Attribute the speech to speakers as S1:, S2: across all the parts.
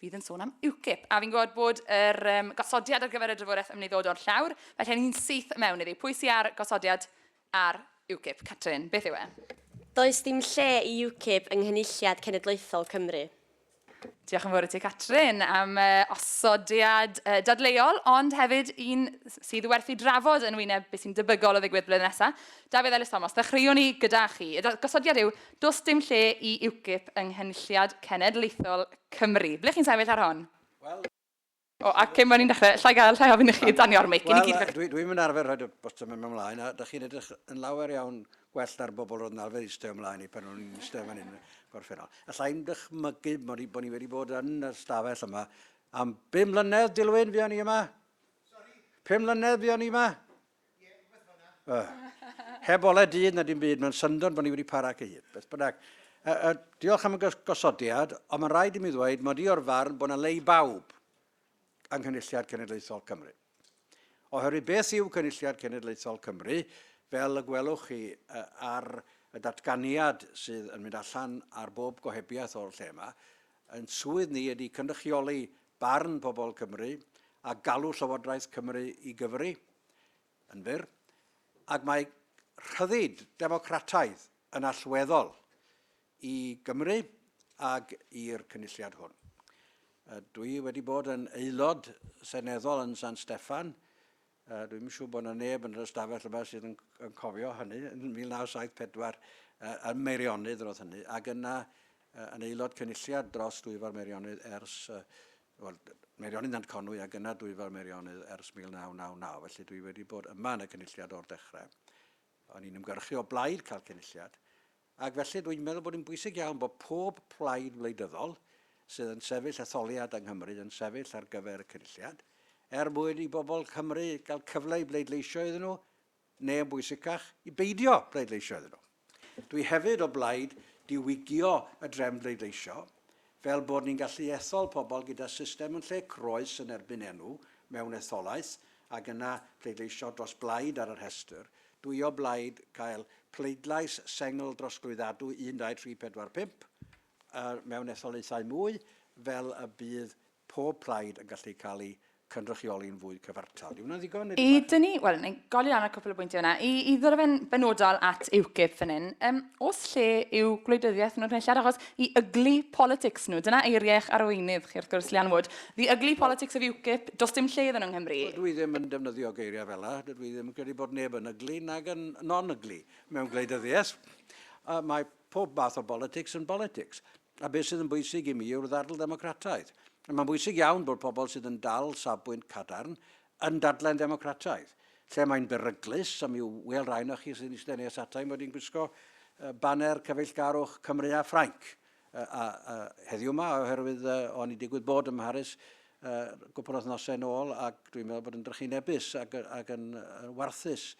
S1: fydd yn sôn am UKIP. A fi'n gwybod bod yr um, gosodiad ar gyfer y drafodaeth yn ddod o'r llawr, felly ni'n syth mewn iddi. Pwy sy'n ar gosodiad ar UKIP? Catrin, beth yw e? Does dim
S2: lle i UKIP yng Nghynulliad Cenedlaethol Cymru. Diolch
S1: yn fawr i ti, Catrin, am uh, osodiad uh, dadleuol, ond hefyd un sydd werthu drafod yn wyneb beth sy'n debygol o ddigwydd blwyddyn nesaf. Dafydd Ellis Thomas, ddechreuwn ni gyda chi. Y gosodiad yw, does dim lle i UKIP yng Nghynulliad Cenedlaethol Cymru. Ble chi'n sefyll ar hon? Wel... O, a cyn bod ni'n dechrau, allai gael llai ofyn i chi danio'r mic i ni gyd? Wel, dwi, dwi'm yn arfer
S3: rhoi'r botwm yma ymlaen, a da chi'n edrych yn lawer iawn gwell na'r bobl roedd yn arfer eistedd ymlaen i pan o'n i'n eistedd fan hyn gorffennol. Allai'n dychmygu bod ni, bod ni wedi bod yn y stafell yma am bum mlynedd, Dilwyn, fuon ni yma? Sorry? Pum mlynedd fuon ni yma? Uh, heb ole dydd na dim byd, mae'n syndod bod ni wedi para ac ei hun. Beth bynnag, uh, uh, diolch am y gosodiad, ond mae'n rhaid i mi ddweud mod i o'r farn bod yna le i bawb yng Nghynulliad Cenedlaethol Cymru. Oherwydd beth yw Cynulliad Cenedlaethol Cymru, fel y gwelwch chi uh, ar y datganiad sydd yn mynd allan ar bob gohebiaeth o'r lle yma, yn swydd ni ydy cynrychioli barn pobl Cymru a galw Llywodraeth Cymru i gyfri, yn fyr, ac mae rhyddid democrataidd yn allweddol i Gymru ac i'r Cynulliad hwn. Dwi wedi bod yn aelod seneddol yn San Steffan Yy, dwi'm yn siŵr bod 'na neb yn yr ystafell yma sydd yn, yn cofio hynny, yn 1974, yy, yn Meirionydd roedd hynny, ac yna yy, yn aelod cynulliad dros Dwyfor Meirionydd ers, yy, wel, Meirionydd Nant Conwy ac yna Dwyfor Meirionydd ers 1999, felly dwi wedi bod yma yn y cynulliad o'r dechrau. O'n i'n ymgyrchu o blaid cael cynulliad, Ac felly, dwi'n meddwl bod hi'n bwysig iawn bod pob plaid wleidyddol sydd yn sefyll etholiad yng Nghymru yn sefyll ar gyfer y Cynulliad, er mwyn i bobl Cymru gael cyfle i bleidleisio iddyn nhw, neu yn bwysicach, i beidio bleidleisio iddyn nhw. Dwi hefyd o blaid diwygio y drefn bleidleisio, Fel bod ni'n gallu ethol pobl gyda system yn lle croes yn erbyn enw mewn etholaeth ac yna pleidleisio dros blaid ar y rhestr, dwy o blaid cael pleidlais sengl drosglwyddadwy 1, 2, 3, 4, 5, a mewn etholaethau mwy fel y bydd pob plaid yn gallu cael ei cynrychioli'n fwy cyfartal. Yw hwnna'n ddigon? I dynnu, wel, ni'n
S1: golli lan ar cwpl o bwyntiau yna. I, i ddod fe'n benodol at UKIP fan hyn, um, os lle yw gwleidyddiaeth nhw'n rhaid achos i ugly politics nhw, dyna eiriau eich arweinydd chi wrth gwrs, Leanne Wood, the ugly politics of UKIP, dos dim lle iddyn nhw yng Nghymru. Wel, dwi ddim yn defnyddio
S3: geiriau fel yna, dydw i ddim yn credu bod neb yn ugly nag yn non-ugly mewn gwleidyddiaeth. Uh, mae pob math o politics yn politics. A beth sydd yn bwysig i mi yw'r ddadl ddemocrataidd. Mae'n bwysig iawn bod pobl sydd yn dal safbwynt cadarn yn dadlau'n ddemocrataidd. Lle mae'n beryglus, a mi ŵyl rai onoch chi sy'n eistedd nes ata i mod i'n gwisgo baner cyfeillgarwch Cymru a Ffrainc heddiw yma, oherwydd o'n i'n digwydd bod ym Mharis gwpl o wythnosau yn ôl ac dwi'n meddwl bod yn drychinebus ac, ac yn warthus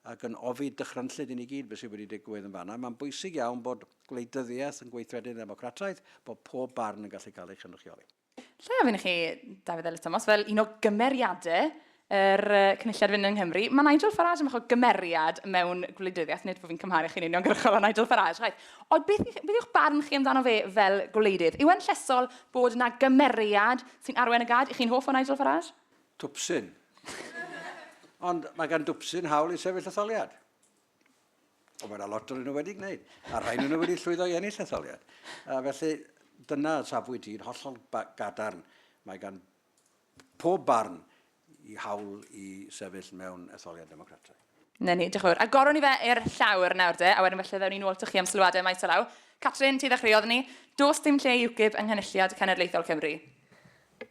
S3: ac yn ofi dychrynllyd i ni gyd beth sydd wedi digwydd yn fanna. Mae'n bwysig iawn bod Gwleidyddiaeth yn gweithredu'n ddemocrataidd, bod pob barn yn gallu cael ei chynrychioli. Lle ofyn i chi,
S1: Dafydd Elis Thomas, fel un o gymeriadau yr Cynulliad Fynd yng Nghymru, mae Nigel Farage yn fach o gymeriad mewn gwleidyddiaeth, nid bod fi'n cymharu chi'n uniongyrchol â Nigel Farage, chwaith, ond beth, beth yw'ch barn chi amdano fe fel gwleidydd? Yw e'n llesol bod yna gymeriad sy'n arwain y gad? Ych chi'n hoff o Nigel Farage? Twpsyn.
S3: Ond mae gan dwpsyn hawl i sefyll etholiad. Mae yna lot o'n nhw wedi gwneud, a rhai nhw wedi llwyddo i ennill etholiad. A felly, dyna safbwynt i'n hollol gadarn. Mae gan pob barn i hawl i sefyll mewn etholiad democrataidd. Na ni, diolch yn fawr.
S1: Agoron ni fe i'r llawr nawr de, a wedyn falle ddewn ni nôl to chi am sylwadau maes o law. Catrin, ti ddechreuodd ni. Does dim lle i UKIP yng Nghynulliad Cenedlaethol Cymru.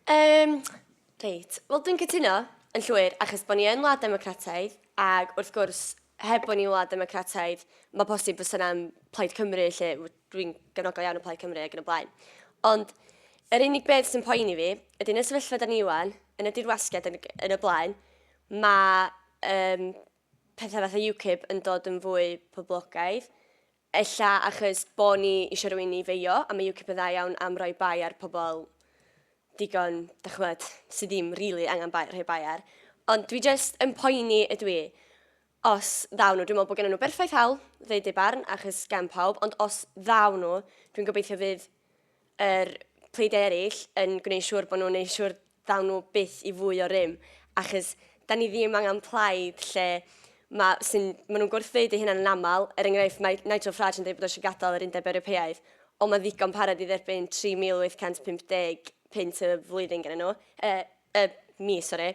S1: Yym,
S2: Reit, wel dwi'n cytuno, yn llwyr, achos bod ni yn wlad democrataidd, ac wrth gwrs, heb bod ni'n wlad democrataidd, mae posib fysa yna'n Plaid Cymru, lle dwi'n gefnogol iawn o Plaid Cymru ac yn y blaen. Ond yr unig beth sy'n poeni fi, ydy yn y sefyllfa da ni iwan, yn y dirwasgiad yn, yn y blaen, mae um, pethau fath o UKIP yn dod yn fwy poblogaidd, Ella achos bo ni isio rhywun i feio a mae UKIP yn dda iawn am roi bai ar pobl digon, dach ch'mod, sy ddim rili angen bai, rhoi bai ar. Ond dwi jyst yn poeni ydw i, os ddaw nhw, dwi'n meddwl bod gennyn nhw berffaith hawl ddeud eu barn achos gan pawb, ond os ddaw nhw, dwi'n gobeithio fydd yr pleid eraill yn gwneud siŵr bod nhw'n neud siŵr ddaw nhw byth i fwy o rym, achos da ni ddim angen plaid lle ma, sy'n, maen nhw'n gwrthfeud eu hunain yn aml, er enghraifft mae Nigel Farage yn dweud bod o eisiau gadael yr Undeb Ewropeaidd, ond mae'n ddigon parod i dderbyn 3,850 punt y flwyddyn gennyn nhw. Yy, y mis, sori,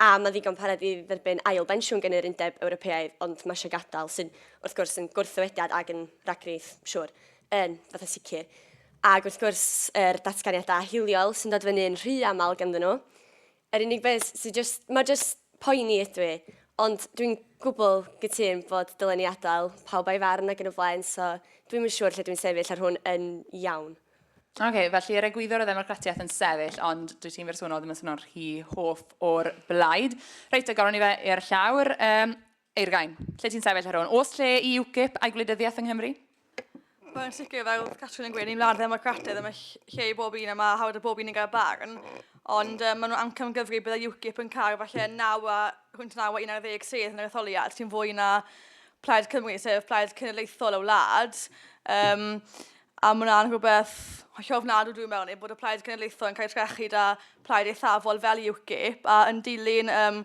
S2: a mae'n ddigon parod i dderbyn ail bensiwn gan yr Undeb Ewropeaidd, ond mae eisiau gadael, sy'n wrth gwrs yn gwrthddywediad ac yn ragfyth, siwr, yn fatha sicr. Ac wrth gwrs, yr datganiadau hiliol sy'n dod fyny yn rhy aml ganddyn nhw. Yr unig beth sy'n just, mae just poeni ydw i, ond dwi'n gwbl gytun bod dylen ni adael pawb a'i farn ac yn y blaen, so dwi'n yn siŵr lle dwi'n sefyll ar hwn yn iawn. Oce, okay, felly
S1: yr egwyddor o ddemocratiaeth yn sefyll, ond dwi ti'n bersonol ddim yn swnio'n rhy hoff o'r blaid. Reit, a goron ni fe i'r llawr. Um, Eir gain, lle ti'n sefyll ar hwn? Os lle i UKIP a'i gwleidyddiaeth yng Nghymru? Wel, yn
S4: sicr, fel Catrin yn gweud, ni'n wlad ddemocrataidd, a mae lle i bob un, a mae hawdd y bob un yn gael barn. Ond um, maen nhw'n amcam gyfri byddai UKIP yn cael falle 9 a, hwynt 9 a 11 sedd yn yr etholiad, sy'n fwy na Plaid Cymru, sef Plaid Cenedlaethol y wlad. Um, A mae hwnna'n rhywbeth hollol ofnadw dwi'n meddwl, neu bod y Plaid Cenedlaethol yn cael ei trechu da plaid eithafol fel UKIP, a yn dilyn um,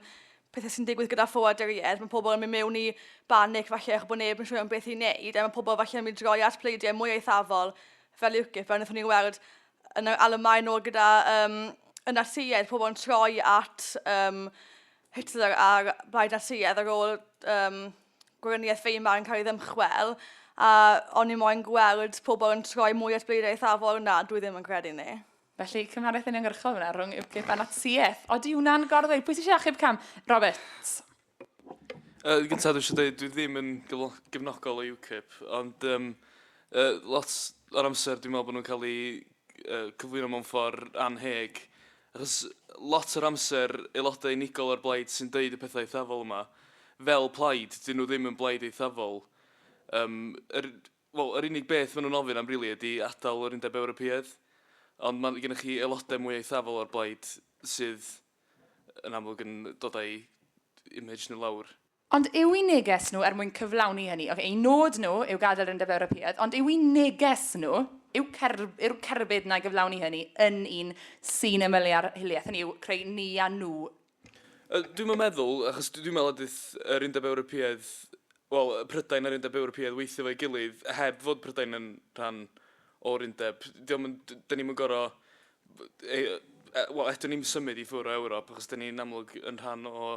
S4: pethau sy'n digwydd gyda ffoaduriaid, mae pobl yn mynd mewn i banic falle eich bod neb yn siŵr am beth i wneud, a mae pobl falle yn mynd i droi at pleidiau mwy eithafol fel UKIP, fel wnaethon ni weld yn yr Alemaen ôl gyda um, y Natsïaid, pobl yn troi at um, Hitler a'r Blaid Natsïaidd ar ôl um, Gweriniaeth Weimar yn cael ei ddymchwel, a o'n i moyn gweld pobl yn troi mwy at bleidiau eithafol, na, dwi ddim yn credu ni. Felly, cymhariaeth
S1: uniongyrchol fyna rhwng UKIP a Natsiaeth. Odi hwnna'n gorddweud? Pwy sy'n eisiau achub cam? Roberts. Uh,
S5: gyntaf, dwi eisiau dweud, dwi ddim yn gefnogol o UKIP, ond um, uh, lot o'r amser dwi'n meddwl bod nhw'n cael eu uh, cyflwyno mewn ffordd anheg, Achos lot o'r amser aelodau unigol o'r blaid sy'n deud y pethau eithafol yma, fel plaid, 'dyn nhw ddim yn blaid eithafol. Yym, yr, wel, yr unig beth maen nhw'n ofyn am rili ydi adael yr Undeb Ewropeaidd, ond mae gennych chi aelodau mwy eithafol o'r blaid sydd yn amlwg yn dod â'i image nhw lawr. Ond yw'n neges
S1: nhw er mwyn cyflawni hynny? Ocê, eu nod nhw yw gadael yr Undeb Ewropeaidd, ond yw'n neges nhw, yw cer- yw'r cerbyd 'na i gyflawni hynny yn un sy'n ymylu ar hiliaeth, hynny yw, creu ni a nhw? Yy, dwi'm
S5: yn meddwl, achos dw- dwi'n meddwl ydith yr Undeb Ewropeaidd, wel, yy, Prydain a'r Undeb Ewropeaidd weithio efo'i gilydd heb fod Prydain yn rhan o'r undeb. Dio'm yn, d- 'dyn ni'm yn gor'o', b- ei- yy, e- wel, eto ni'm symud i ffwr' o Ewrop achos 'dyn ni'n amlwg yn rhan o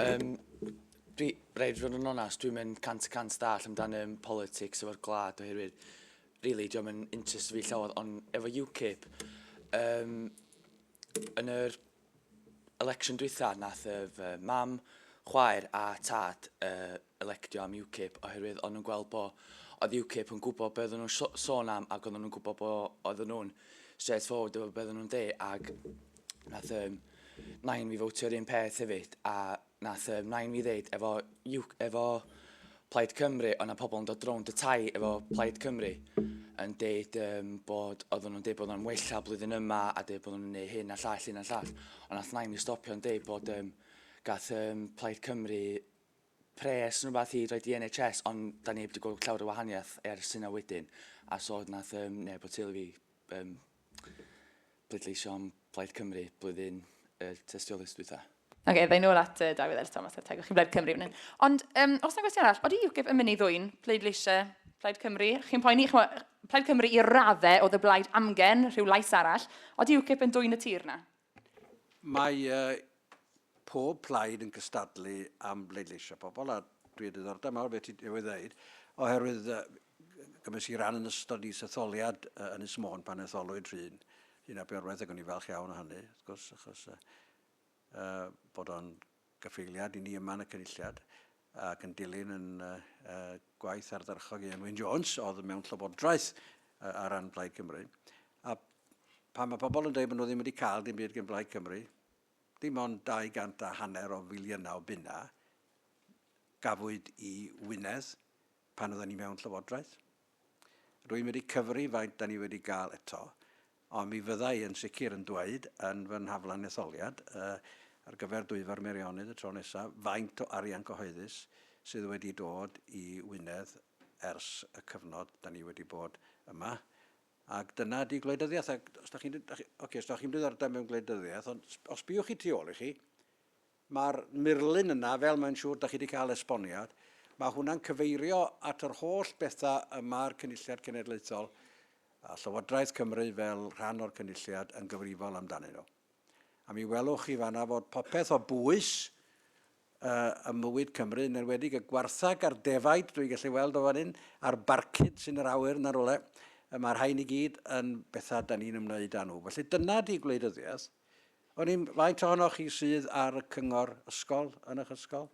S6: Um, dwi, rhaid fod yn onast, dwi'n mynd cant y cant dall amdano um, politics efo'r glad oherwydd, really, diolch yn interest fi llawer, ond efo UKIP, um, yn yr election dwytha, nath y uh, mam, chwaer a tad uh, electio am UKIP oherwydd o'n nhw'n gweld bo oedd UKIP yn gwybod be oedden nhw'n sôn am ac oedden nhw'n gwybod bo oedden nhw'n straight forward efo be oedden nhw'n deu ac nath um, nain fi fowtio'r un peth hefyd a nath um, nain fi ddeud efo, efo Plaid Cymru o'na pobl yn dod rownd y tai efo Plaid Cymru yn deud um, bod oedden nhw'n deud bod nhw'n wella blwyddyn yma a deud bod nhw'n gwneud hyn a llall, hyn a llall. Ond nath nain i stopio'n deud bod um, gath um, Plaid Cymru pres neu rywbeth i roid i NHS ond da ni heb wedi gweld llawer o wahaniaeth ers hynna wedyn a so nath um, neb o teulu fi um, pleidleisio am Blaid Cymru blwyddyn y uh, tystiolaeth dwytha. Ac okay, ddau nôl at
S1: uh, Dafydd Ellis Thomas a tegwch chi Blaid Cymru fan hyn. Ond um, os yna gwestiwn arall, oeddi UKIP yn mynd i ddwy'n pleidleisiau Plaid Cymru? Chi'n poeni, chmo, Plaid Cymru i raddau oedd y blaid amgen, rhyw lais arall. Oeddi UKIP yn dwy'n y tir na? Mae
S3: pob plaid yn cystadlu am bleidleisio pobl a dwi â diddordeb mawr beth ti newydd ddeud oherwydd gymes i ran yn ystod is-etholiad yn Ynys Môn pan etholwyd Rhun Rhun ap Iorwerth ac o'n i'n falch iawn o hynny wrth gwrs achos bod o'n Gyfeiliad i ni yma yn y Cynulliad ac yn dilyn yn gwaith ardderchog Ieuan Wyn Jones oedd mewn Llywodraeth ar ran Plaid Cymru. A pan mae pobl yn dweud bod nhw ddim wedi cael dim byd gen Blaid Cymru, dim ond 200 a hanner o filiynau o bunnau gafwyd i Wynedd pan oedden ni mewn Llywodraeth. Rwy'n wedi cyfri faint da ni wedi gael eto, ond mi fydda i yn sicr yn dweud yn fy nhaflen etholiad, ar gyfer Dwyfor Meirionnydd y tro nesaf, faint o arian cyhoeddus sydd wedi dod i Wynedd ers y cyfnod da ni wedi bod yma, ac dyna ydy gwleidyddiaeth, ac os da chi'n, ocê, os da chi'm diddordeb mewn gwleidyddiaeth, ond os sbïwch chi tu ôl i chi, Mae'r murlun yna, fel mae'n siŵr dach chi 'di cael esboniad, mae hwnna'n cyfeirio at yr holl bethau y mae'r Cynulliad Cenedlaethol a Llywodraeth Cymru fel rhan o'r Cynulliad yn gyfrifol amdanyn nhw. A mi welwch chi fanna fod popeth o bwys ym mywyd Cymru, yn enwedig y gwartheg a'r defaid, dwi'n gallu weld o fan hyn, a'r barcud sy'n yr awyr yna rywle, mae'r rhain i gyd yn bethau da ni'n ymwneud â nhw. Felly dyna di gwleidyddiaeth, Wn i'm faint ohonoch chi sydd ar y cyngor ysgol yn eich ysgol.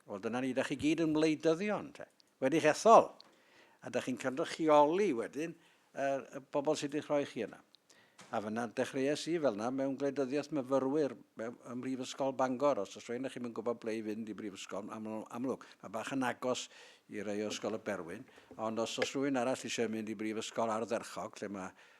S3: Wel, dyna ni, da chi gyd yn wleidyddion, te. Wedi'ch ethol. A da chi'n cynrychioli wedyn er, y bobl sydd wedi rhoi chi yna. A fyna dechreuais i fel yna mewn gwleidyddiaeth myfyrwyr ym Mhrifysgol Bangor. Os oes rhywun ych chi'n gwybod ble i fynd i Brifysgol amlwg, mae bach yn agos i rei o Ysgol y Berwyn, ond os oes rhywun arall eisiau mynd i Brifysgol Ardderchog lle mae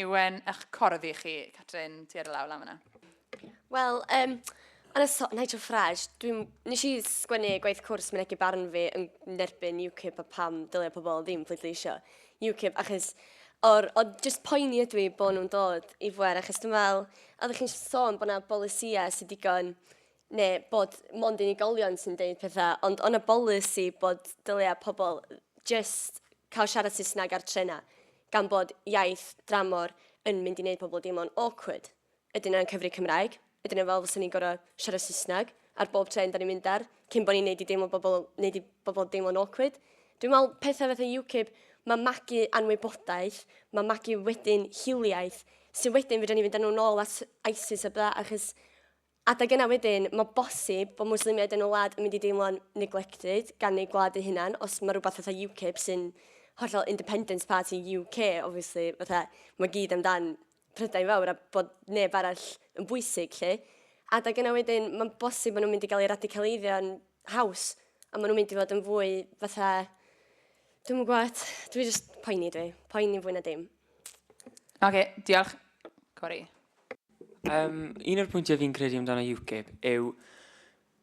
S1: Iwen, ych corddi i chi. Catrin, ti ar y law lan fyna. Wel,
S2: um, yn y so Nigel Farage, dwi'n... Nes i sgwennu gwaith cwrs mynegu barn fi yn nerbyn UKIP a pam dylia pobl ddim pleidleisio UKIP, achos o'r, o just poeni ydw i bod nhw'n dod i fwer, achos dwi'n fel, oeddech chi'n sôn bod yna bolisiau sy'n digon, neu bod mond unigolion sy'n deud pethau, ond o'na bolisi bod dylia pobl just cael siarad Saesneg ar trenau. gan bod iaith dramor yn mynd i wneud pobl deimlo'n awkward. Ydyn nhw'n cyfri Cymraeg? Ydyn nhw fel fysa ni'n gorau siarad Saesneg ar bob trên da ni'n mynd ar, cyn bod ni'n neud i deimlo bobl, neud i bobl deimlo'n awkward? Dwi'n meddwl pethau fatha UKIP, mae magu anwybodaeth, mae magu wedyn hiliaeth, sy'n wedyn fedrwn ni fynd â nhw'n ôl at ISIS a bla, achos Adeg yna wedyn, mae bosib bod Mwslimiaid yn y wlad yn mynd i deimlo'n neglected gan eu gwlad eu hunain, os mae rhywbeth fatha UKIP sy'n hollol independence party UK, obviously, fatha, mae gyd amdan Prydain Fawr a bod neb arall yn bwysig, lle. Adeg yna wedyn, mae'n bosib maen nhw'n mynd i gael eu radicaliddion haws, a maen nhw'n mynd i fod yn fwy fatha, Dwi'n yn gwybod, dwi just poeni dwi, poeni fwy na dim. Oce,
S1: diolch. Cori. Um,
S7: un o'r pwyntiau fi'n credu amdano UKIP yw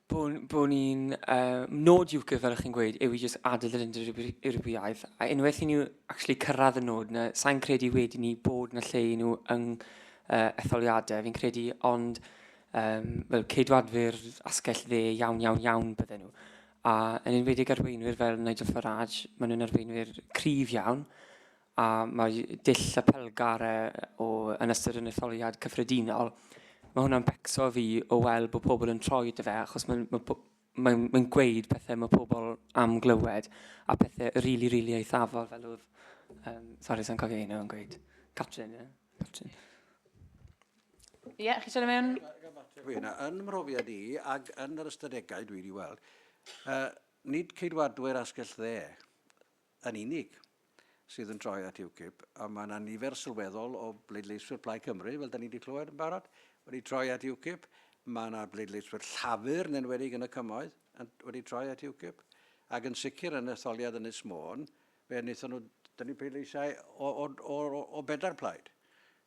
S7: bod, bod ni'n... Uh, nod UKIP, fel ych chi'n gweud, yw i jyst adael yr undod Ewropeaidd. A unwaith i ni actually cyrraedd y nod yna, sa'n credu wedi ni bod yna lle i nhw yng uh, etholiadau, fi'n credu, ond um, fel ceidwadwyr asgell dde iawn, iawn, iawn bydden nhw. A yn enwedig arweinwyr fel Nigel Farage, maen nhw'n arweinwyr cryf iawn, a mae dull y pellgare o yn ystod yn etholiad cyffredinol, mae hwnna'n becso fi o weld bod pobl yn troi dy fe, achos mae'n ma mae, mae gweud pethau mae pobl am glywed, a pethau rili, really, rili really eithafol, fel oedd, um, sori, sa'n cofio un o'n gweud, Catrin, ie? Catrin.
S1: Ie, yeah, chi sôn mewn? Hwyna, yn
S3: mhrofiad i, ac yn yr ystadegau dwi wedi weld, uh, nid ceidwadwyr asgell dde yn unig sydd yn troi at UKIP, a mae yna nifer sylweddol o bleidleiswyr Plaid Cymru, fel da ni wedi clywed yn barod, wedi troi at UKIP, mae yna bleidleiswyr Llafur yn enwedig yn y cymoedd yn, wedi troi at UKIP, ac yn sicr yn etholiad yn Ysmôn, fe wnaethon nhw dynnu pleidleisiau o, o, o, o bedair plaid.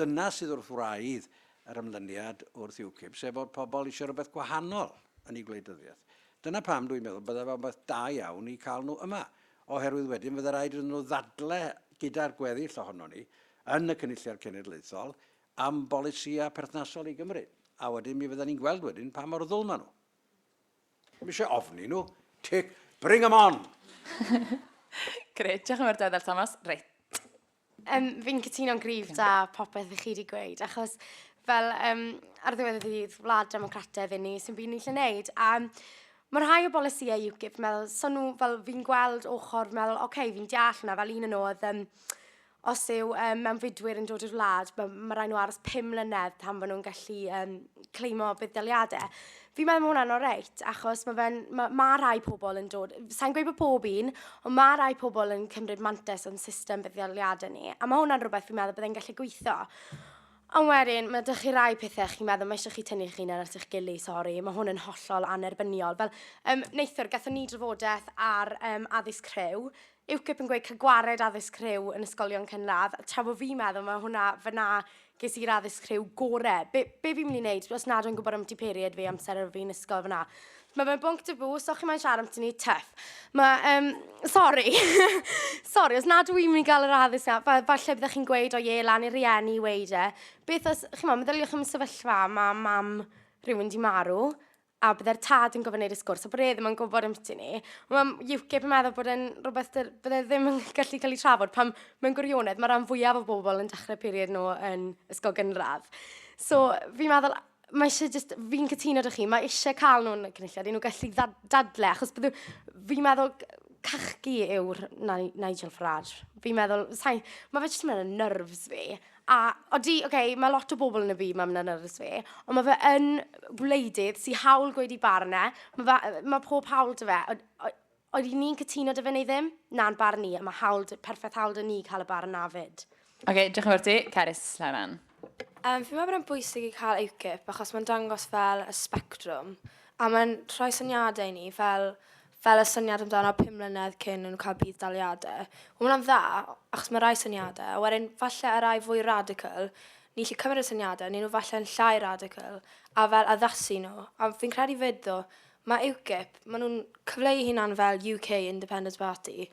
S3: Dyna sydd wrth wraidd yr ymlyniad wrth UKIP, sef fod pobl eisiau rhywbeth gwahanol yn eu gwleidyddiaeth. Dyna pam dwi'n meddwl byddai fo'n beth da iawn i cael nhw yma, oherwydd wedyn fydde raid iddyn nhw ddadle gyda'r gweddill ohonon ni yn y Cynulliad Cenedlaethol am bolisïau perthnasol i Gymru, a wedyn mi fydden ni'n gweld wedyn pa mor ddwl maen nhw. Ddim eisiau ofni nhw. Tick, bring 'em on!
S1: Grêt, diolch yn fawr Dafydd Thomas. Reit. Um,
S8: fi'n cytuno'n gryf da popeth i chi wedi gweud, achos fel um, ar ddiwedd y ddydd, wlad democrataidd i ni, sy'n byd ni'n lle wneud. A mae rhai o bolisiau UKIP, meddwl, so nhw, fel fi'n gweld ochr, meddwl, oce, okay, fi'n deall hwnna, fel un yn oedd, um, os yw um, mewn fydwyr yn dod i'r wlad, mae ma rhaid nhw aros pum mlynedd pan fydden nhw'n gallu um, cleimo buddaliadau. Fi'n meddwl mae hwnna'n oreit, achos mae fe'n... Mae ma rhai pobl yn dod... Sa'n gweud bod pob un, ond mae rhai pobl yn cymryd mantes o'n system buddioliadau ni. A mae hwnna'n rhywbeth fi'n meddwl byddai'n gallu gweithio. Ond wedyn, mae dych chi rai pethau chi'n meddwl, mae eisiau chi tynnu chi'n ar eich gili, sori, mae hwn yn hollol anerbyniol. Fel, um, neithwr, gatho ni drafodaeth ar um, addysg rhyw, UKIP yn gweud cael gwared addysg rhyw yn ysgolion cynradd, tra bod fi'n meddwl mae hwnna, fanna ges i'r addysg rhyw gore. Be, be fi'n mynd i wneud os nad o'n gwybod am ti period fi amser ar fi'n ysgol fanna? Mae fe'n bwnc tabw, os o'ch chi'n mae'n siarad amdano ni, tuff. Mae, um, sorry, sorry, os nad yw'n mynd i gael yr addysg na, fa, falle byddwch chi'n gweud o ie, lan i'r rieni i weid e. Beth os, chi'n meddwl, meddyliwch am y sefyllfa, mae mam rhywun di marw, a bydde'r tad yn gofyn i'r sgwrs, a bod e ddim yn gwybod am ti ni. Mae UKIP yn meddwl bod e'n rhywbeth dyr, bydde ddim yn gallu cael ei trafod pan mewn gwirionedd mae rhan fwyaf o bobl yn dechrau period nhw yn ysgol gynradd. So, fi'n meddwl, mae eisiau just, fi'n cytuno dych chi, mae eisiau cael nhw'n y cynulliad i nhw gallu dadle, achos bydde, fi'n meddwl cachgi yw'r Nigel Farage. Fi'n meddwl, mae fe jyst yn mynd y nerves fi, A odi, oce, mae lot o bobl yn y byd 'ma, mae'n nyrs fi, ond mae fe yn wleidydd sy'n hawl gweud i barn e. Mae, fe, mae pob hawl dy fe. Od, od, oed ni'n cytuno dy fe neu ddim? Na'n barn ni, a mae hawl, perffaith hawl dy ni cael y barn na fyd. Oce, okay, diolch yn fawr ti.
S1: Cerys, Lawran. Um, fi meddwl
S9: bod e'n bwysig i cael UKIP achos mae'n dangos fel y spectrwm a mae'n rhoi syniadau i ni fel fel y syniad amdano pum mlynedd cyn yn cael budd-daliade. Ma' hwnna'n dda, achos ma' rai syniade, a wedyn falle y rai fwy radical, ni 'llu cymryd y syniade, ni nhw falle yn llai radical, a fel addasu nhw. A fi'n credu 'fyd ddo, ma' UKIP, ma' nhw'n cyfleu eu hunan fel UK Independence Party,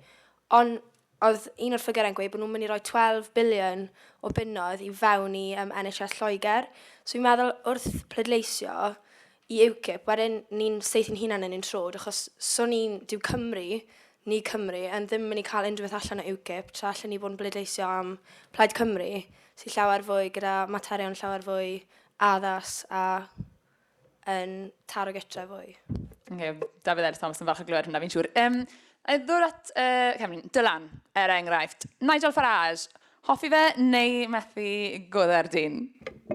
S9: ond Oedd un o'r ffigyrau'n gweud bod nhw'n mynd i roi 12 biliwn o bunnoedd i fewn i um, NHS Lloegr. So fi'n meddwl wrth pleidleisio i UKIP, wedyn ni'n saethu'n hunan yn ein trod, achos so ni'n, dyw Cymru, ni Cymru, yn ddim mynd i cael unrhyw beth allan o UKIP, tra allan ni bod yn bleidleisio am Plaid Cymru, sy'n llawer fwy gyda materion llawer fwy addas a yn taro getrau fwy. Okay, Dafydd
S1: Ellis Thomas yn falch o glywed hwnna, fi'n siŵr. Um, a ddod at uh, Cymru, Dylan, er enghraifft. Nigel Farage, hoffi fe neu methu goddau'r dyn?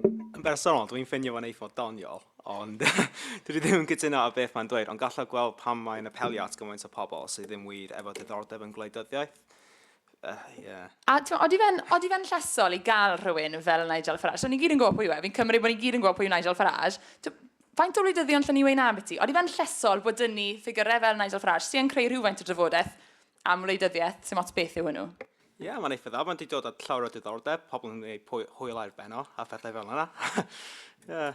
S1: Yn bersonol,
S10: dwi'n ffeindio fo'n eithaf doniol, ond dwi ddim yn cytuno â beth mae'n dweud, ond gallaf gweld pam mae'n apelio at gymaint o pobl sydd ddim wir efo diddordeb yn gwleidyddiaeth.
S1: Ie. A t'mo' odi fe'n odi fe'n llesol i ga'l rhywun fel Nigel Farage? So ni gyd yn gwbo pwy yw e, fi'n cymryd bo' ni gyd yn gwbo pwy yw Nigel Farage. T'o' faint o wleidyddion allen ni weud 'na ambyti? Odi fe'n llesol bod 'da ni ffigyre fel Nigel Farage sy yn creu rhywfaint o drafodeth am wleidyddieth, sim ots beth yw hwnnw? Ie, mae'n eitha dda,
S10: mae'n di dod at llawer o diddordeb, pobl yn ei pwy- hwyl ar ben o, a phethau fel yna. Ie.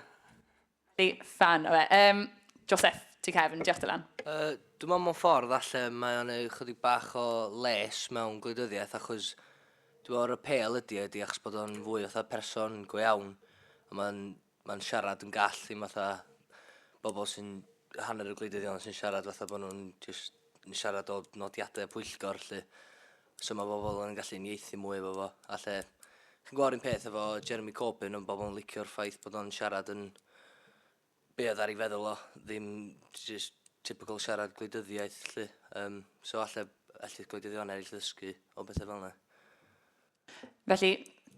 S10: Rili
S1: ffan o fe. Yym, Joseph, ti cefn. Diolch Dylan. Yy, dwi me'wl mewn
S11: ffordd falle mae o'n eu chydig bach o les mewn gwleidyddiaeth achos dwi me'wl yr apêl ydi e ydi achos bod o'n fwy fatha person go iawn a ma'n ma'n siarad yn gall ddim fatha bobl sy'n hanner y gwleidyddion sy'n siarad fatha bo' nhw'n jyst yn siarad o nodiade pwyllgor 'lly. So mae bobl yn gallu unieithu mwy efo fo. A lle, chi'n gwybod un peth efo Jeremy Corbyn, ond bobl yn licio'r ffaith bod o'n siarad yn be oedd ar ei feddwl o, ddim just typical siarad gwleidyddiaeth, lle. Um, so alle, alle gwleidyddion eraill ddysgu o bethau fel yna.
S1: Felly,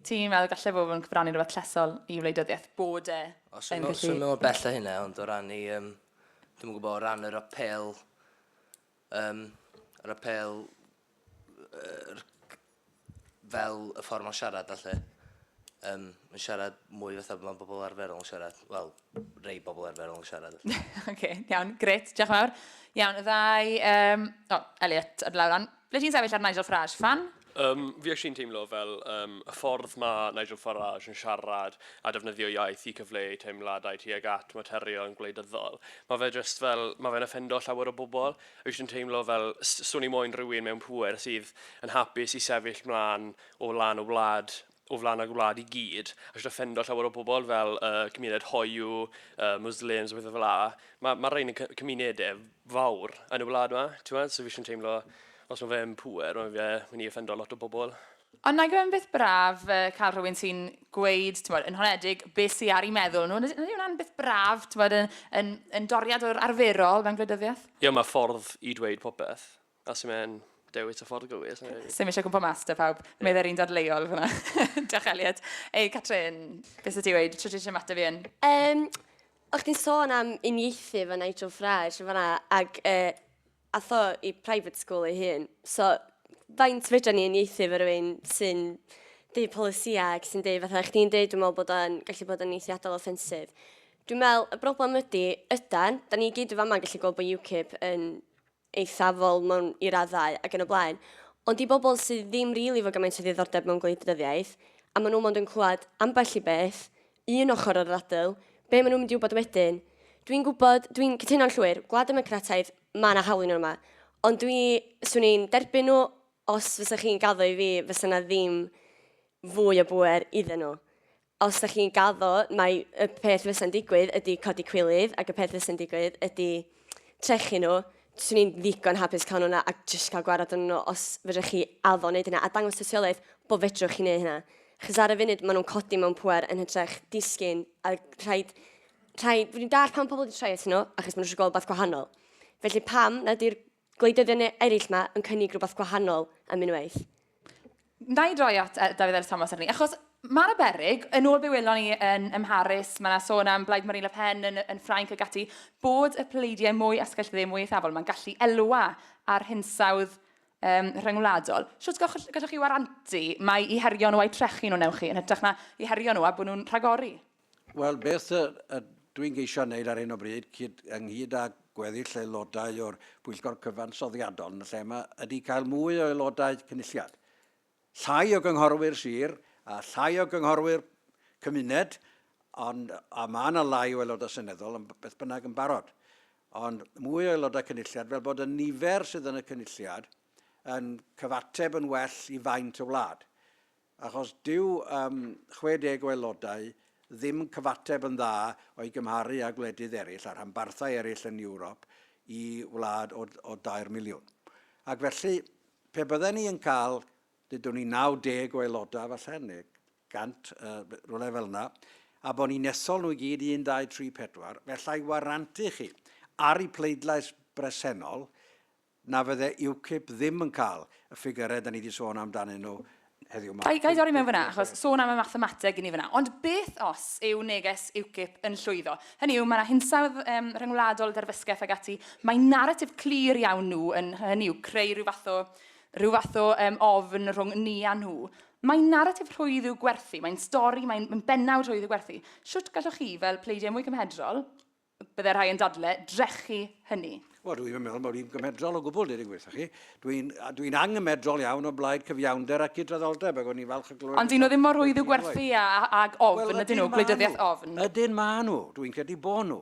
S1: ti'n meddwl gallu fod yn cyfrannu rhywbeth llesol i wleidyddiaeth bod e Os yn gallu... Os yn meddwl bell o hynna,
S11: ond o ran i, um, dwi'n gwybod, o ran yr apel Ym yr apêl yr fel y ffordd mae'n siarad a lle. Ym yn siarad mwy fatha fel mae bobl arferol yn siarad. Wel, rei bobl arferol yn siarad. OK, iawn,
S1: gret, diolch yn fawr. Iawn, y ddau, um, o, Elliot, ar lawr lan. Ble ti'n sefyll ar Nigel Farage? Fan? Yym,
S12: fi actually yn teimlo fel yym, y ffordd ma' Nigel Farage yn siarad a defnyddio iaith i cyfleu teimladau tuag at materion gwleidyddol, ma' fe jyst fel, ma' fe'n offendo llawer o bobl. Fi jyst yn teimlo fel, s- swn i moyn rhywun mewn pŵer sydd yn hapus i sefyll mlaen o lan y wlad o flaen y gwlad i gyd, a jyst offendo llawer o bobl fel y cymuned hoyw, y Muslims, a pethau fel la. Mae ma rhain yn cymunedau fawr yn y wlad yma, ti'n meddwl? So fi eisiau teimlo, os mae fe'n pŵer, mae fe mynd i offendo lot o bobl. Ond nag yw e'n beth
S1: braf uh, cael rhywun sy'n gweud, ti'n bod, yn honedig, beth sy'n ar ei meddwl nhw. Ydy hwnna'n beth braf, ti'n bod, yn, yn, yn doriad o'r arferol mewn gwleidyddiaeth? Ie, yeah, mae ffordd
S12: i dweud popeth. Os yw e'n dewis y ffordd gywir. Sym eisiau gwmpa mas
S1: da pawb. Yeah. Meddai'r un dad leol fyna. Diolch Elliot. Ei, Catrin, beth ydi wedi? Trwy ti'n mateb i un? Um, o'ch
S2: ti'n sôn am unieithu fy Nigel Farage fyna, ac uh, atho i private school ei hun. So, faint fedra ni unieithu fy rwy'n sy'n deud polisiau ac sy'n deud fatha, o'ch ti'n deud, dwi'n meddwl bod o'n gallu bod yn eithriadol offensif. Dwi'n meddwl, y broblem ydy, ydan, da ni gyd yn fama gallu gweld bod UKIP yn eithafol mewn i raddau ac yn y blaen, ond i bobl sydd ddim rili efo gymaint o ddiddordeb mewn gwleidyddiaeth, a maen nhw mond yn clywed ambell i beth, un ochr o'r ddadl, be maen nhw'n mynd i wybod wedyn? Dwi'n gwybod, dwi'n cytuno'n llwyr, Gwlad Democrataidd, mae yna hawl i nhw yma, ond dwi, 'swn i'n derbyn nhw os fysa chi'n gaddo i fi, fysa 'na ddim fwy o bŵer iddyn nhw. Os dach chi'n gaddo, mae y peth fysa'n digwydd ydy codi cwilydd, ac y peth fysa'n digwydd ydy trechu nhw. Swn i'n ddigon hapus cael nhw yna a jyst cael gwared arnyn nhw os fedrwch chi addo wneud hynna, a dangos tystiolaeth bod fedrwch chi wneud hynna. Achos ar y funud, maen nhw'n codi mewn pwer yn hytrach, disgyn, a rhaid... rhaid... Rwy'n dallt pam pobl wedi troi atyn nhw, achos maen nhw eisiau gweld rhywbeth gwahanol. Felly pam nad yw'r Gwleidyddion eraill ma yn cynnig rhywbeth gwahanol am unwaith. Wna
S1: i droi at Dafydd Elis Thomas ar hynny, achos mae 'na beryg, yn ôl be welon ni yn, ym Mharis, mae 'na sôn am Blaid Marine Le Pen yn, yn Ffrainc ac ati, bod y pleidiau mwy asgellyddiaeth, mwy eithafol, mae'n gallu elwa ar hinsawdd um, rhyngwladol. Sut gallwch, gallwch chi warantu mai i herio nhw a'i trechu nhw newch chi, yn hytrach na i herio nhw a bod nhw'n rhagori? Wel, beth
S3: dwi'n geisio wneud ar hyn o bryd, ynghyd â gweddill aelodau o'r Pwyllgor Cyfansoddiadol yn y lle yma, ydy cael mwy o aelodau cynulliad. Llai o gynghorwyr sir a llai o gynghorwyr cymuned, ond a mae yna lai o aelodau seneddol yn beth bynnag yn barod. Ond mwy o aelodau cynulliad fel bod y nifer sydd yn y cynulliad yn cyfateb yn well i faint y wlad. Achos dyw ym 60 o aelodau ddim yn cyfateb yn dda o'i gymharu â gwledydd eraill a rhanbarthau eraill yn Ewrop i wlad o o dair miliwn. Ac felly, pe bydden ni yn cael, dydwn ni, 90 o aelodau falle, neu 100, rhywle fel yna, a bod ni'n ethol nhw i gyd, un, dau, tri, pedwar, f'allai warantu chi, ar y pleidlais bresennol, na fydde UKIP ddim yn cael y ffigyrau 'da ni 'di sôn amdanyn nhw heddiw 'ma. Ga i dorri mewn fan'na, achos
S1: sôn am y mathemateg i ni fan'na, ond beth os yw neges UKIP yn llwyddo? Hynny yw, mae 'na hinsawdd yym rhyngwladol, derfysgeth ac ati, mae naratif clir iawn nhw yn, hynny yw, creu rhyw fath o rhyw fath o yym ofn rhwng ni a nhw. Mae naratif rhwydd i'w gwerthu, mae'n stori, mae'n bennawd rhwydd i'w gwerthu. Shwt gallwch chi, fel pleidiau mwy cymhedrol, Byddai rhai yn dadle drechu hynny. Wel, dwi ddim yn meddwl bod
S3: hi'n gymhedrol o gwbl, dweud y gwir chi. Dwi'n dwi anghymedrol iawn o blaid cyfiawnder a cydraddoldeb, ac o'n i'n falch o glywed... Ond dyn nhw ddim mor rhwydd i'w gwerthu
S1: ag ofn, well, ydyn nhw, gwleidyddiaeth ofn. Ydyn maen nhw, dwi'n
S3: credu bod nhw.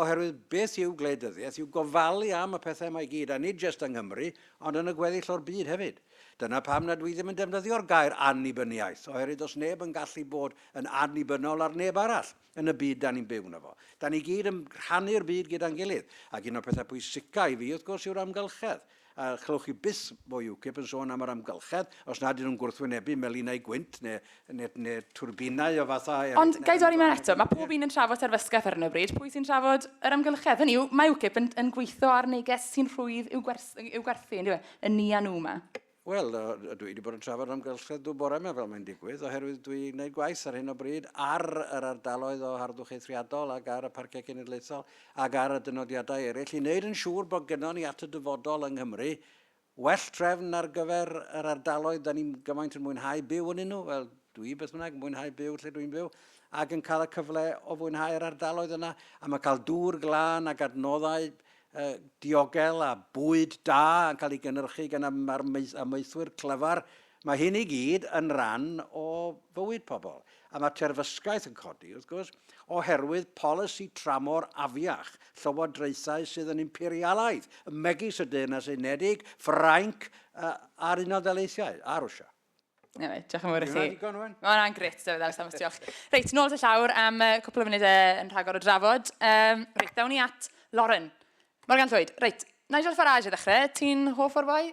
S3: Oherwydd beth yw gwleidyddiaeth yw gofalu am y pethau mae gyd, a nid jyst yng Nghymru, ond yn y gweddill o'r byd hefyd. Dyna pam na dwi ddim yn defnyddio'r gair annibyniaeth, oherwydd does neb yn gallu bod yn annibynnol ar neb arall. yn y byd 'da ni'n byw yno fo. 'Da ni gyd yn rhannu'r byd gyda'n gilydd, ac un o'r pethau pwysica i fi, wrth gwrs, yw'r amgylchedd. A chlywch chi byth o UKIP yn sôn am yr amgylchedd, os nad 'dyn nhw'n gwrthwynebu melinau gwynt neu, neu, neu twrbinau o fathau eraill. Ond, ga i dorri mewn eto,
S1: mae pob un yn trafod terfysgaeth ar hyn o bryd, pwy sy'n trafod yr amgylchedd? Hynny yw, mae UKIP yn, yn gweithio ar neges sy'n rhwydd i'w gwers- i'w gwerthu, yndyw e? Y ni a nhw 'ma. Wel,
S3: dwi wedi bod yn trafod amgylchedd Dŵr bore yma, fel mae'n digwydd, oherwydd dwi yn gwneud gwaith ar hyn o bryd ar yr ardaloedd o harddwch eithriadol ac ar y Parciau Cenedlaethol ac ar y dynodiadau eraill i wneud yn siŵr bod gynnon ni at y dyfodol yng Nghymru well trefn ar gyfer yr ardaloedd da ni'n gymaint yn mwynhau byw yn nhw, wel, dwi beth bynnag yn mwynhau byw lle dwi'n byw, ac yn cael y cyfle o fwynhau yr ardaloedd yna, a mae cael dŵr glân ac adnoddau y diogel a bwyd da yn cael ei gynhyrchu gan amaethwyr clyfar, mae hyn i gyd yn ran o fywyd pobl. A mae terfysgaeth yn codi, wrth gwrs, oherwydd polisi tramor afiach llywodraethau sydd yn imperialaidd, megis y Deyrnas Unedig, Ffrainc a'r Unol Daleithiau, a Rwsia. Anyway, diolch yn
S1: fawr i chi. Mae'n digon o'n? Mae hwnna'n gret,
S3: David
S1: Ellis, am diolch. Reit, nôl at y llawr am uh, cwpl o funudau yn rhagor o drafod. Um, reit, dawn ni at Lauren. Morgan Llwyd, reit, Nigel Farage i ddechrau, ti'n hoff o'r boi?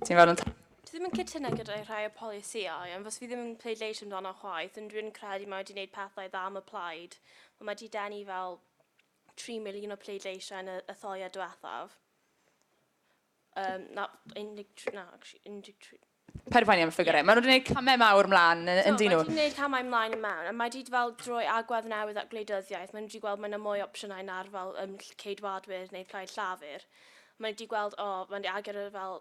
S1: Ti'n fawr yn... Dwi ddim yn cytuno
S9: gyda'i rhai o polisïau, ond fos fi ddim yn pleidleisio amdano chwaith, ond dwi'n credu mae wedi gwneud pethau dda am y plaid. Mae wedi denu fel 3 miliwn o pleidleisiau yn y, y thoiau diwethaf. Um, na, 13, na, actually, 13. Paid poeni
S1: am y ffigurau. Yeah. Maen nhw wedi gwneud camau mawr ymlaen yn, yn dyn nhw. Mae wedi gwneud camau ymlaen
S9: yn mewn, a mae wedi fel drwy agwedd newydd at gwleidyddiaeth, mae wedi gweld mae yna mwy opsiynau na'r fel um, ceidwadwyr neu plaid llafur. Mae wedi gweld, o, oh, mae wedi agor yr fel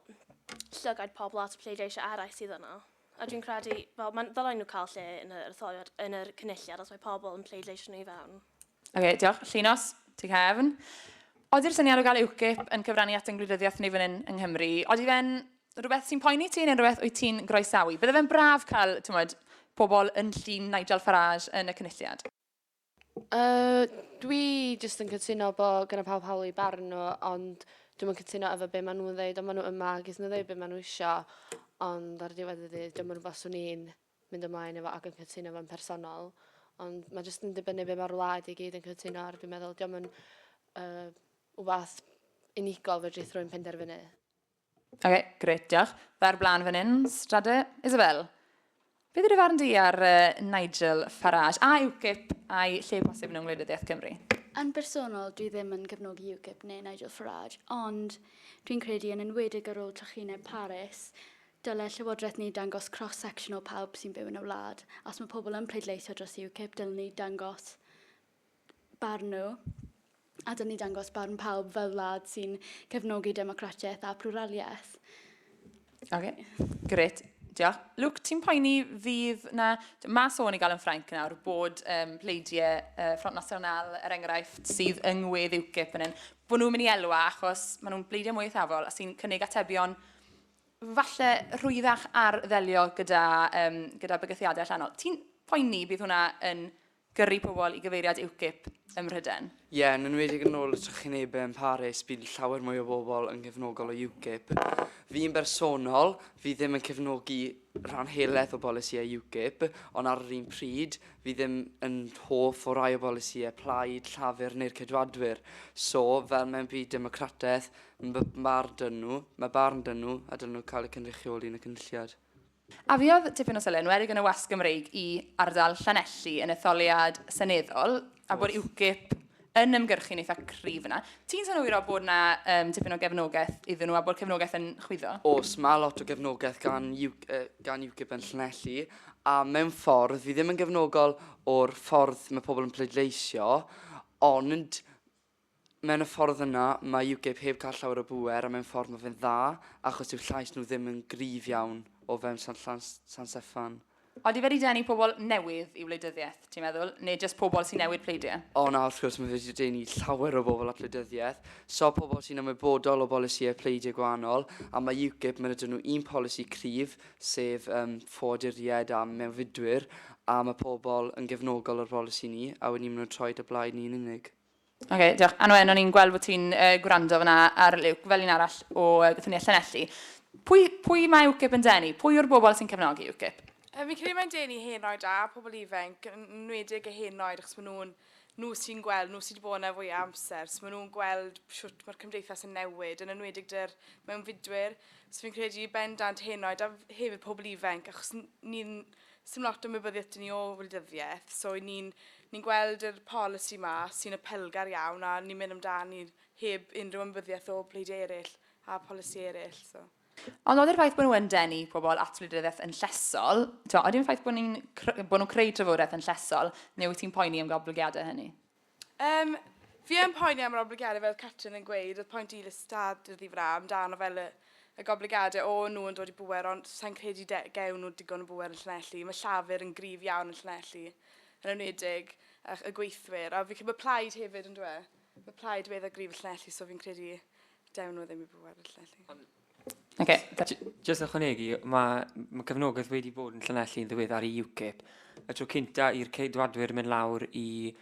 S9: llygaid pobl at y pleidleisiau eraill sydd yna. A dwi'n credu, fel, mae'n ddylen nhw cael lle yn yr etholiad, yn yr cynulliad, os mae pobl yn pleidleisio nhw i fewn. Ok, diolch.
S1: Llinos, tu cefn. Odi'r syniad o gael UKIP yn cyfrannu at yng ngwleidyddiaeth ni fan hyn yng Nghymru, odi fe'n rhywbeth sy'n poeni ti neu'n rhywbeth wyt ti'n groesawu? Bydde fe'n braf cael, ti'n moed, pobl yn llun Nigel Farage yn y cynulliad. Uh,
S13: dwi jyst yn cytuno bo gyda pawb hawl i barn nhw, ond dwi'n yn cytuno efo be maen nhw'n ddeud, ond maen nhw yma, gys nhw ddeud be maen nhw isio, ond ar y diwedd y dydd, dwi'n yn rhywbeth swn i'n mynd ymlaen efo ac yn cytuno fo'n personol ond mae jyst yn dibynnu be mae'r wlad i gyd yn cytuno ar dwi'n meddwl diolch yn uh, wbath unigol fe drith rwy'n penderfynu. Oce, okay,
S1: gret, diolch. Fer blaen fan hyn, Strade. Isabel, beth yw'r farn di ar uh, Nigel Farage a UKIP a'i lle posib yn ymwleidyddiaeth Cymru? Yn bersonol,
S14: dwi ddim yn cefnogi UKIP neu Nigel Farage, ond dwi'n credu yn enwedig ar ôl trychineb Paris, Dylai'r Llywodraeth ni dangos cross section o pawb sy'n byw yn y wlad. Os mae pobl yn pleidleisio dros UKIP, dylwn ni dangos barn nhw, a dylwn ni dangos barn pawb fel wlad sy'n cefnogi democratiaeth a pluraliaeth. Ok,
S1: gret. Diolch. Luke, ti'n poeni fydd na... Mae sôn i gael yn Ffrainc nawr bod um, pleidiau uh, Front National, er enghraifft, sydd yng ngwedd UKIP yn hyn, bod nhw'n mynd i elwa achos maen nhw'n pleidiau mwy eithafol a sy'n cynnig atebion falle rhwyddach ar ddelio gyda, um, gyda bygythiadau allanol. Ti'n poeni bydd hwnna yn gyrru pobl i gyfeiriad UKIP ym Mhryden? Ie, yeah, yn enwedig yn
S6: ôl y trychinebau yn Paris, bydd llawer mwy o bobl yn gefnogol o UKIP. Fi'n bersonol, fi ddim yn cefnogi rhan helaeth o bolisiau UKIP, ond ar yr un pryd, fi ddim yn hoff o rai o bolisiau plaid, llafur neu'r cedwadwyr. So, fel mewn byd democrataeth, Yn fy marn dynnu, mae barn dynnu a dynnu cael eu cynrychioli yn y Cynulliad. Afiodd
S1: tipyn o sylw, yn enwedig yn y wasg Gymreig, i ardal Llanelli yn etholiad seneddol, a bod UKIP yn ymgyrchu'n eitha cryf yna. Ti'n synhwyro bod yna um, tipyn o gefnogaeth iddyn nhw a bod cefnogaeth yn chwyddo? Os mae lot o
S6: gefnogaeth gan, gan UKIP yn Llanelli, a mewn ffordd, fi ddim yn gefnogol o'r ffordd mae pobl yn pleidleisio, ond Mewn y ffordd yna, mae UKIP heb gael llawer o bŵer a mewn ffordd mae fe'n dda achos dyw llais nhw ddim yn gryf iawn o fewn Sant Llan- San Steffan. Odi fe 'di denu
S1: pobl newydd i wleidyddiaeth, ti'n meddwl, neu jyst pobl sy'n newid pleidie? O na, wrth gwrs, mae fe 'di
S6: denu llawer o bobl at wleidyddiaeth. So, pobl sy'n ymwybodol o bolisïau pleidie gwahanol, a mae UKIP, mae 'da nhw un polisi cryf, sef yym ffoaduriaid a mewnfudwyr, a mae pobl yn gefnogol o'r bolisi ni, a wedyn ni maen nhw'n troi 'da blaid ni yn unig. Ok, diolch. Anwen,
S1: o'n i'n gweld bod ti'n uh, gwrando fyna ar Luke, fel un arall o uh, gyffiniau Llanelli. Pwy, pwy mae UKIP yn denu? Pwy yw'r bobl sy'n cefnogi UKIP? Um, fi'n credu mae'n denu
S4: hen oed a pobl ifanc, yn nwedig y hen oed, achos maen nhw'n nhw sy'n gweld, nhw sydd wedi bod yna fwy amser, so maen nhw'n gweld siwt mae'r cymdeithas yn newid, yn enwedig dy'r mewn fidwyr. So fi'n credu bendant hen oed a hefyd pobl ifanc, achos ni'n 'sdim lot o ymwybyddiaeth 'da ni o wleidyddiaeth so 'y ni'n ni'n gweld yr polisi 'ma sy'n apelgar iawn a ni'n mynd amdani heb unrhyw ymwybyddiaeth o bleidiau eraill a polisi eraill so. Ond nodi'r ffaith
S1: bod nhw yn denu pobl at wleidyddiaeth yn llesol, t'mo' odi'n ffaith bod ni'n cr- bo' nhw'n creu trafodaeth yn llesol neu wyt ti'n poeni am goblygiadau hynny? Yym,
S4: fi yn poeni am yr oblygiadau fel Catrin yn gweud, oedd point Elis Dad dyddi f'ra amdano fel y y goblygiadau o nhw yn dod i bŵer ond sa'n credu de- gewn nhw digon o bŵer yn Llanelli, mae Llafur yn gryf iawn yn Llanelli yn enwedig ych y gweithwyr a fi'n credu bod Plaid hefyd yndyw e? Mae Plaid wedd a gryf yn Llanelli so fi'n credu dewn nhw ddim i bŵer yn Llanelli. Okay. Jyst
S7: ychwanegu, mae, mae cefnogaeth wedi bod yn Llanelli yn ddiwedd ar y UKIP. Y tro cynta i'r ceidwadwyr mynd lawr i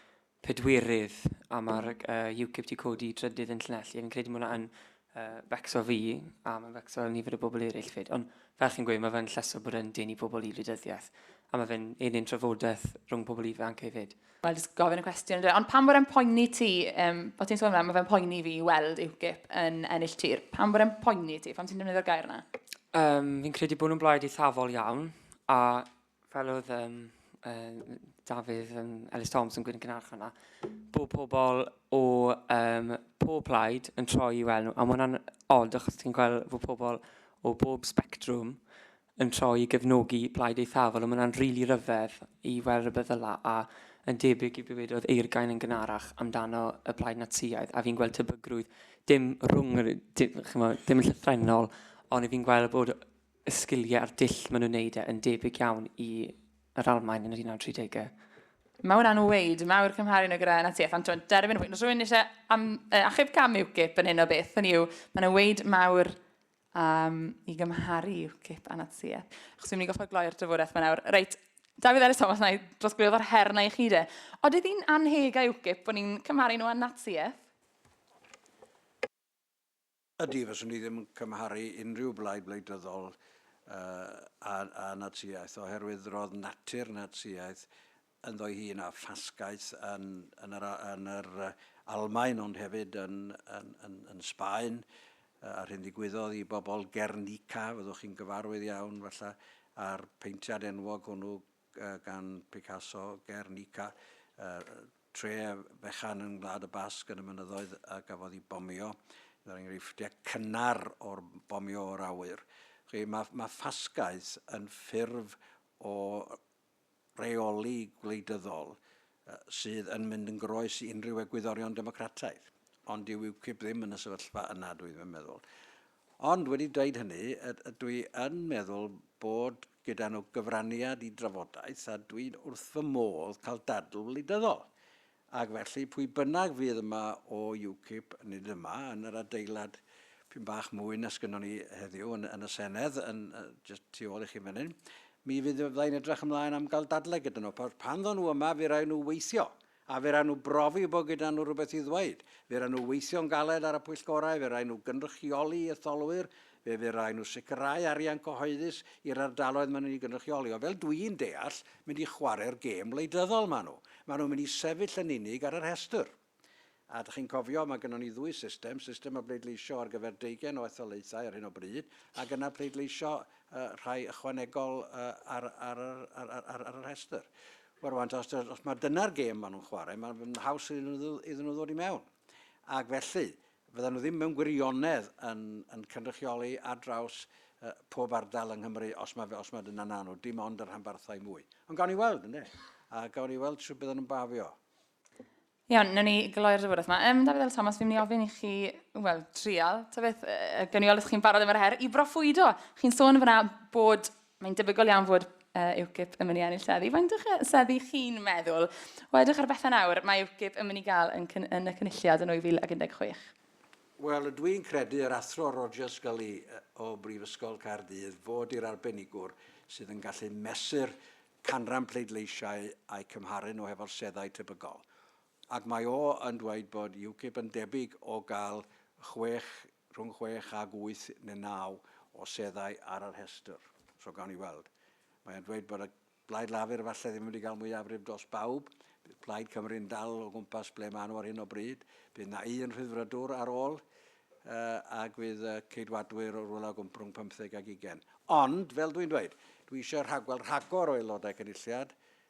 S7: pedwyrydd a mae'r uh, UKIP wedi codi trydydd yn Llanelli. Fi'n credu bod hwnna'n uh, fecso fi a mae'n fecso nifer o bobl eraill fyd. Ond fel chi'n gweud, mae fe'n llesol bod yn denu pobl i wleidyddiaeth. A mae fe'n un trafodaeth rhwng pobl ifanc hefyd. Wel, jyst gofyn y cwestiwn
S1: ynddo. Ond pam bod e'n poeni ti, um, bod ti'n sôn yna, mae fe'n poeni fi i weld UKIP yn ennill tir. Pam bod e'n poeni ti? Pam ti'n defnyddio'r gair yna? Um, fi'n credu
S7: bod nhw'n blaid eithafol iawn, a fel oedd um, um, Dafydd um, Ellis Thompson yn gwneud yn gynharach yna, bod pobl o um, pob plaid yn troi i weld nhw, a mae hwnna'n od achos ti'n gweld bod pobl o bob spectrwm yn troi i gefnogi Plaid Eithafol ond mae hwnna'n rili ryfedd i weld rywbeth fel 'na a yn debyg i be wedodd Eirgain yn gynharach amdano y Plaid Natsïaidd a fi'n gweld tebygrwydd dim rhwng yr di- ch'mo' dim yn llythrennol ond 'yf fi'n gweld bod y sgiliau a'r dull maen nhw'n wneud e yn debyg iawn i yr Almaen yn yr 1930au. Mae hwnna'n
S1: weid mawr cymharu nhw gyda Natsïaeth ond t'mod derbyn y pwynt. Os rhywun isie am- yy achub cam UKIP yn hyn o beth hynny yw ma' 'na weid mawr um, i gymharu UKIP a Natsiaeth. Chos fi'n mynd i goffa gloi'r drafodaeth yma nawr. Reit, David Ellis Thomas, na i drosglwyddo o'r her na i chi de. Ond ydy hi'n anheg a UKIP bod ni'n cymharu nhw â Natsiaeth?
S3: Ydy, fyswn ni ddim yn cymharu unrhyw blaid wleidyddol uh, a, a Natsiaeth, oherwydd roedd natur Natsiaeth ynddo'i hun a ffasgaeth yn yr Almaen ond hefyd yn Sbaen a'r hyn ddigwyddodd i bobl Guernica, fyddwch chi'n gyfarwydd iawn falle â'r peintiad enwog hwnnw gan Picasso, Guernica, tre fechan yn Ngwlad y Basg yn y mynyddoedd a gafodd ei bomio, un o'r enghreifftiau cynnar o'r bomio o'r awyr. Mae ffasgaeth yn ffurf o rheoli gwleidyddol sydd yn mynd yn groes i unrhyw egwyddorion democrataidd. Ond dyw UKIP ddim yn y sefyllfa yna, dwi ddim yn meddwl. Ond wedi dweud hynny, dwi yn meddwl bod gyda nhw gyfraniad i drafodaeth a dwi'n wrth fy modd cael dadl wleidyddol. Ac felly, pwy bynnag fydd yma o UKIP, nid yma, yn yr adeilad p'un bach mwy na sgynnon ni heddiw yn, yn y Senedd, yn, just tu ôl i chi fan hyn, mi fydd fyddai'n edrych ymlaen am gael dadle gyda nhw. Pan ddod nhw yma, fe rai nhw weithio, a fe rai nhw brofi bod gyda nhw rhywbeth i ddweud. Fe rai nhw weithio'n galed ar y pwyllgorau, fe rai nhw gynrychioli etholwyr, Fe fydd rhaid nhw sicrhau arian cyhoeddus i'r ardaloedd maen nhw'n ei gynrychioli, ond fel dwi'n deall, mynd i chwarae'r gêm wleidyddol maen nhw. Maen nhw'n mynd i sefyll yn unig ar y rhestr. A dach chi'n cofio, mae gynnon ni ddwy system, system o bleidleisio ar gyfer deugain o etholaethau ar hyn o bryd, ac yna pleidleisio uh, rhai ychwanegol uh, ar, ar, ar, ar, ar, ar, ar y rhestr. Wel, rwan, os, os mae dyna'r gêm maen nhw'n chwarae, mae'n haws iddyn nhw ddod i mewn. ac felly, fyddan nhw ddim mewn gwirionedd yn, yn cynrychioli ar draws uh, pob ardal yng Nghymru, os mae, os mae dyna na nhw, dim ond y rhanbarthau mwy. Ond gawn ni weld, ynddo? A gawn ni weld sy'n byddan nhw'n bafio. Iawn,
S1: nawn ni gloi'r ddyfodol yma. Ym, Dafydd Ellis Thomas, fi'n mynd i ofyn i chi, wel, trial, ta beth, uh, gyniol ydych chi'n barod efo'r her i broffwydo. Chi'n sôn fyna bod Mae'n debygol iawn fod uh, UKIP yn mynd i ennill seddi. Faint o'ch seddi chi'n meddwl? O edrych ar bethau nawr, mae UKIP yn mynd i gael yn, yn y cynulliad yn 2016. Wel, ydw
S3: i'n credu yr athro Roger Scully o Brifysgol Caerdydd fod i'r arbenigwr sydd yn gallu mesur canran pleidleisiau a'i cymharu nhw hefo'r seddau tebygol. Ac mae o yn dweud bod UKIP yn debyg o gael chwech, rhwng chwech ac wyth neu naw o seddau ar y rhestr. So gawn ni weld. Mae o'n dweud bod y Blaid Lafur efallai ddim yn mynd i gael mwyafrif dros bawb. Bydd Plaid Cymru'n dal o gwmpas ble maen nhw ar hyn o bryd. Bydd na un Rhyddfrydwr ar ôl uh, ac fydd uh, ceidwadwyr o rwla gwmp rhwng 15 ac 20. Ond, fel dwi'n dweud, dwi eisiau rhagweld rhagor o aelodau cynulliad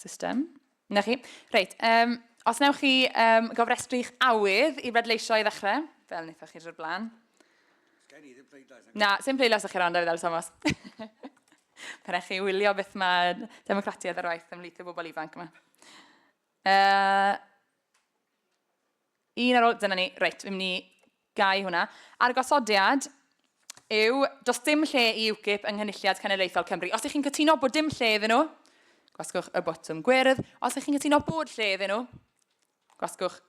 S1: System. Na chi. Reit, um, os newch chi um, gofrestru'ch awydd i bledleisio i ddechrau, fel wnaethoch chi drwy'r blaen. Gen i ddim pleidlais. Na, sy'n pleidlais o'ch chi ran, David Al Thomas. Pan eich chi wylio beth mae democratiaeth ar waith ymhlith y bobl ifanc yma. Uh, un ar ôl, dyna ni, reit, fi'n mynd i Gau hwnna. A'r gosodiad yw, does dim lle i UKIP yng Nghynulliad Cenedlaethol Cymru. Os ych chi'n cytuno bod dim lle iddyn nhw, gwasgwch y botwm gwyrdd. Os ych chi'n cytuno bod lle iddyn nhw, gwasgwch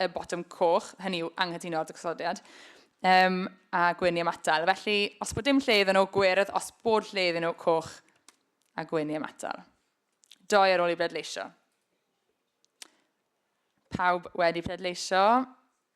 S1: y botwm coch, hynny yw anghytuno â'r gosodiad, um, a gwyn i ymatal. Felly, os bod dim lle iddyn nhw, gwyrdd, os bod lle iddyn nhw, coch, a gwyn i ymatal. Doi ar ôl i bleidleisio. Pawb wedi pleidleisio.